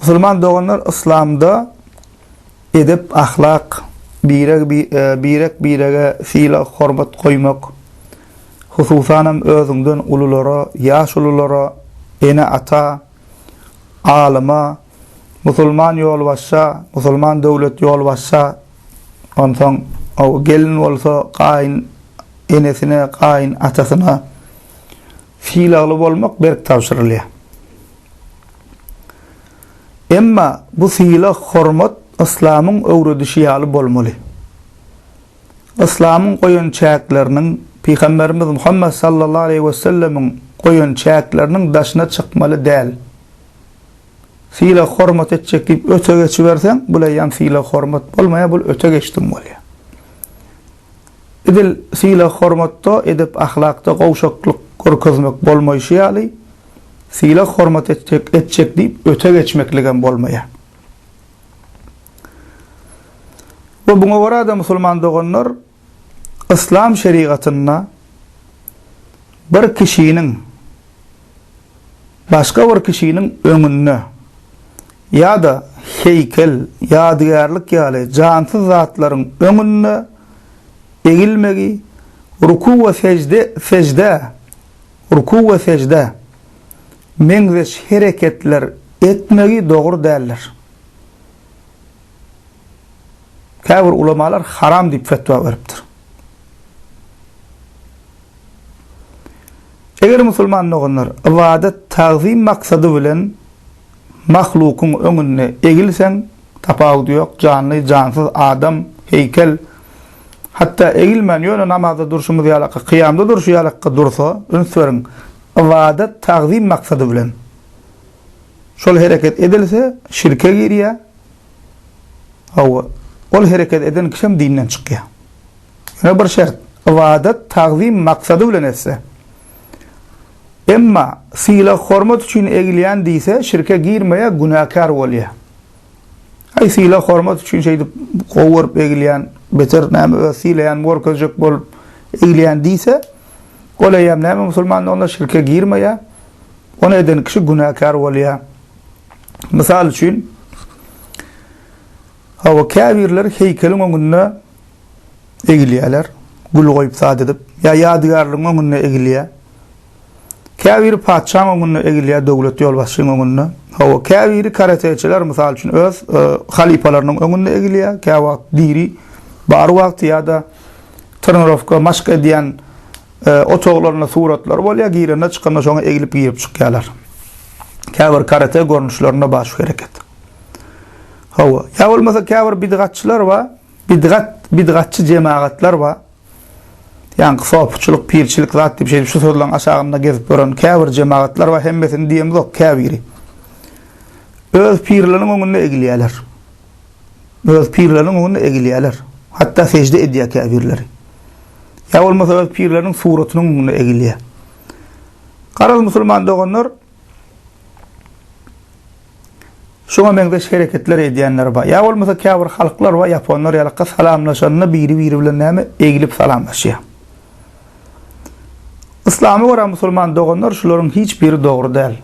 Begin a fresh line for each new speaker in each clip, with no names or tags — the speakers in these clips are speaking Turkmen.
Musulman doganlar yslamda edep ahlak, birek birek birege sylag hormat goýmak, hususanam özüňden ululara, ýaşululara, ene ata, alyma, musulman ýolbaşça, musulman döwlet ýolbaşça, onsoň gelin bolsa gaýyn enesine, gaýyn atasyna, Sylagly bolmak berk tabşyrylýar. Emma bu sylag, hormat yslamyň öwredişi ýaly bolmaly. Yslamyň goýan çäkleriniň, Pygamberimiz Muhammet sallallahu aleýhi we sellemiň goýan çäkleriniň daşyna çykmaly däl. Sylag hormat etjek diýip öte geçiberseň, bul eýýäm sylag hormat bolmaýar, bul öte geçdiň bolýar. Edil sylag-hormatda, edep-ahlakda gowşaklyk görkezmek bolmaýşy ýaly, sylag-hormat etjek, etjek diýip öte geçmekligem bolmaýar. We muňa görä-de, musulman doganlar, yslam şerigatynda bir kişiniň Başga bir kişiniň öňünde ýa-da heýkel, ýadygärlik ýaly jansyz zatlaryň öňünde egilmegi, ruku we sežde, seždä, ruku we seždä, meňzeş hereketler etmegi dogry däldir. Käbir ulamalar haram diýip fetwa beripdir. Eger musulman doganlar, ybadat, tagzym maksady bilen mahlukyň öňünde egilseň, tapawudy ýok, janly, jansyz, adam, heýkel, hatda egilmän, ýöne namazda durşumyz ýalaka, kyýamda durşy ýalaka dursa, üns beriň, ybadat, tagzym maksady bilen şol hereket edilse, şirke girýär, hawa, ol hereket eden kişem dinden çykýar. Şuna bir şert, ybadat, tagzym maksady bilen etse. Emma sylag-hormat üçin egilýän diýse, şirke girmeýär, günäkär bolýar. Aý, sylag-hormat üçin şeýdip gowy görüp egilýän, beter näme öz sylaýanymy görkezjek bolup egilýän diýse, ol eýýäm näme musulmandyr, onda şirke girmeýär. Ony eden kişi günäkär bolýar. Mysal üçin, Hawa, käbirleri heýkeliň öňünde egilýärler, gül goýup zat edip, ýa ýadygärligiň öňünde egilýär. Käbiri patyşaň öňünde egilýär, döwlet ýolbaşçynyň öňünde. Hawa, käbiri karateçiler, mysal üçin, öz halypalarynyň öňünde egilýär, käwagt diri bar wagty ýa-da trenirowka, maşk edýän otaglarynda suratlary bolýar, girende, çykanda şoňa egilip girip çykýarlar. Käbir karate görnüşlerinde bar şu hereket. Hawa, ýa bolmasa käbir bidgatçylar bar, bidgat, bidgatçy jemagatlar bar. Ýaňky sopuçylyk, pirçilik zat diýip şeýdip şu sözleriň aşagynda gezip ýören käbir jemagatlar bar, hemmesini diýemzok, käbiri. Öz pirleriniň öňünde egilýärler. Öz pirleriniň öňünde egilýärler. Hatda sežde edýär käbirleri. Ýa bolmasa öz pirleriniň suratynyň öňünde egilýär. Garaz musulman doganlar, Şuňa meňzeş hereketler edýänler bar. Ýa bolmasa käbir halklar bar, ýaponlar ýalaka salamlaşanda biri-biri bilen näme, eglip salamlaşýar. Yslama görä musulman doganlar şularyň hiç biri dogry däl.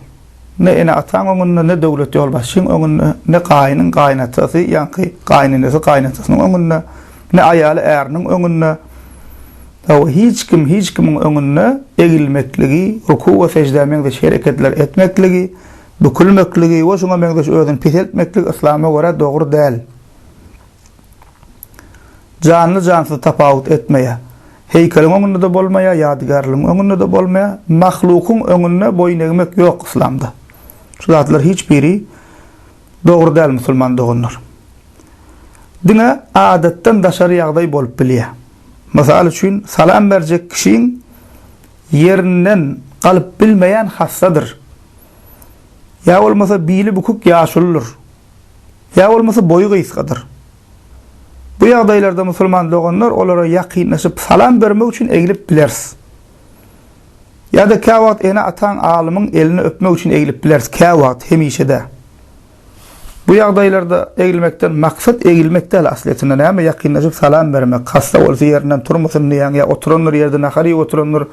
Ne ene-ataň öňünde, ne döwlet ýolbaşçyň öňünde, ne gaýynyň gaýynatasy, ýaňky gaýynenesi gaýynatasynyň öňünde, ne aýaly äriniň öňünde, hawa, hiç kim hiç kimiň öňünde egilmekligi, ruku we seždä meňzeş hereketler etmekligi, Bükülmekligi we şuňa meňzeş özüni peseltmeklik yslama görä dogry däl. Janly jansyz tapawut etmeýär. Heýkeliň öňünde-de bolmaýar, ýadygärligiň öňünde-de bolmaýar. Mahlukyň öňünde boýun egmek ýok yslamda. Şu zatlar hiç biri dogry däl musulman doganlar. Diňe adatdan daşary ýagdaý bolup bilýär. Mysal üçin salam berjek kişiň ýerinden galyp bilmeýän hassadyr Ýa bolmasa bili bükük ýaşulydyr. Ýa bolmasa boýy gysgadyr. Bu ýagdaýlarda musulman doganlar olara ýakynlaşyp salam bermek üçin eglip bileris. Ýa-da käwagt ene-ataň, alymyň elini öpmek üçin eglip bileris, käwagt, hemişe dä. Bu ýagdaýlarda egilmekden maksat egilmek däl aslyýetinde näme ýakynlaşyp salam bermek hassa bolsa ýerinden turmasyn diýýäň ýa oturandyr ýerde nahar iýip oturandyr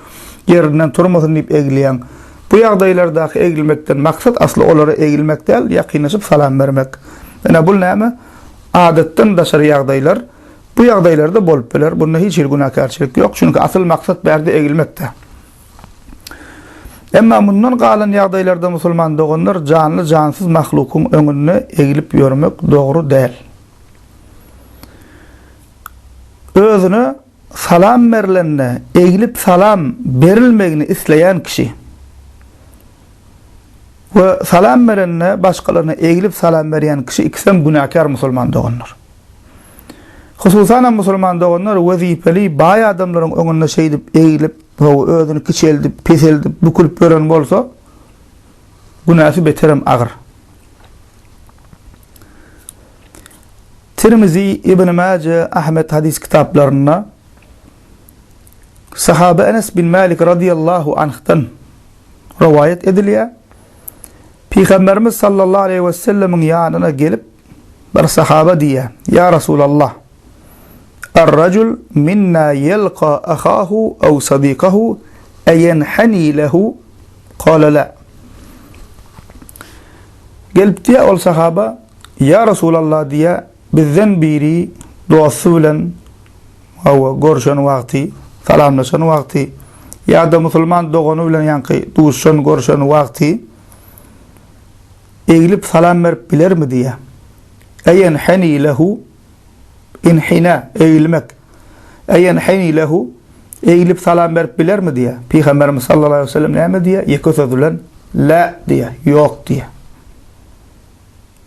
ýerinden turmasyn diýip egilýäň bu ýagdaýlardaky egilmekden maksat asly olara egilmek däl ýakynlaşyp salam bermek ýöne bul näme adatdan daşary ýagdaýlar bu ýagdaýlarda bolup biler bunda hiç hili günäkärçilik ýok çünki asyl maksat bärde egilmekde. Emma mundan galan ýagdaýlarda musulman doganlar janly-jansyz mahlukyň öňünde egilip ýörmek dogry däl. Özüne salam berlende egilip salam berilmegini isleýän kişi we salam berende başgalaryna egilip salam berýän kişi ikisem günäkär musulman doganlar. Hususanam musulman doganlar wezipeli baý adamlaryň öňünde şeýdip egilip Gowy, özüni kiçeldip, peseldip, bükülip ýören bolsa, günäsi beterem agyr. Tirmizi, Ibn Maje, Ahmet hadys kitaplarynda Sahaba Enes bin Malik radiyallahu anh'dan rivayet edilýär. Peygamberimiz sallallahu aleyhi ve sellemiň yanına gelip Bir sahaba diýýär, Ýa Resulallah, Ar-rajul minna ýelka ahahu aw sadykahu aýenhani lehu? Kala la. Gelip diýýär ol sahaba, Ýa Resulallah diýýär, bizden biri dosty bilen hawa, görşen wagty, salamlaşan wagty ýa-da musulman dogany bilen ýaňky duşan, görşen wagty, Eglip salam berip bilermi diýýä. Eýenheni lehu, inhina, egilmek. Eýenheni lehu, eglip salam berip bilermi diýýä. Pygamberimiz sallallahu aleýhi we sellem näme diýýä? Ýeke söz bilen la diýýä, ýok diýýä.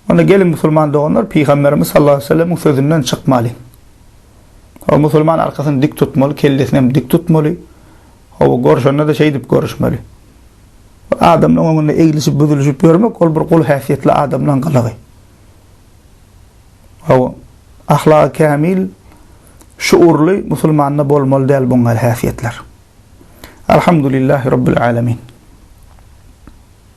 Onda geliň musulman doganlar, pygamberimiz sallallahu aleýhi we sellemiň sözünden çykmaly. Ol musulman arkasyny dik tutmaly, kellesinem dik tutmaly. Hawa görşende-de şeýdip görüşmeli. Ol adamlaryň öňünde eglişip-büzülişip ýörmek, ol bir gul häsiýetli adamlaryň gylygy. Hawa, ahlagy kämil, şuurly musulmanda bolmaly däl buňňäli häsiýetler. Alhamdulillah Rabbil Alamin.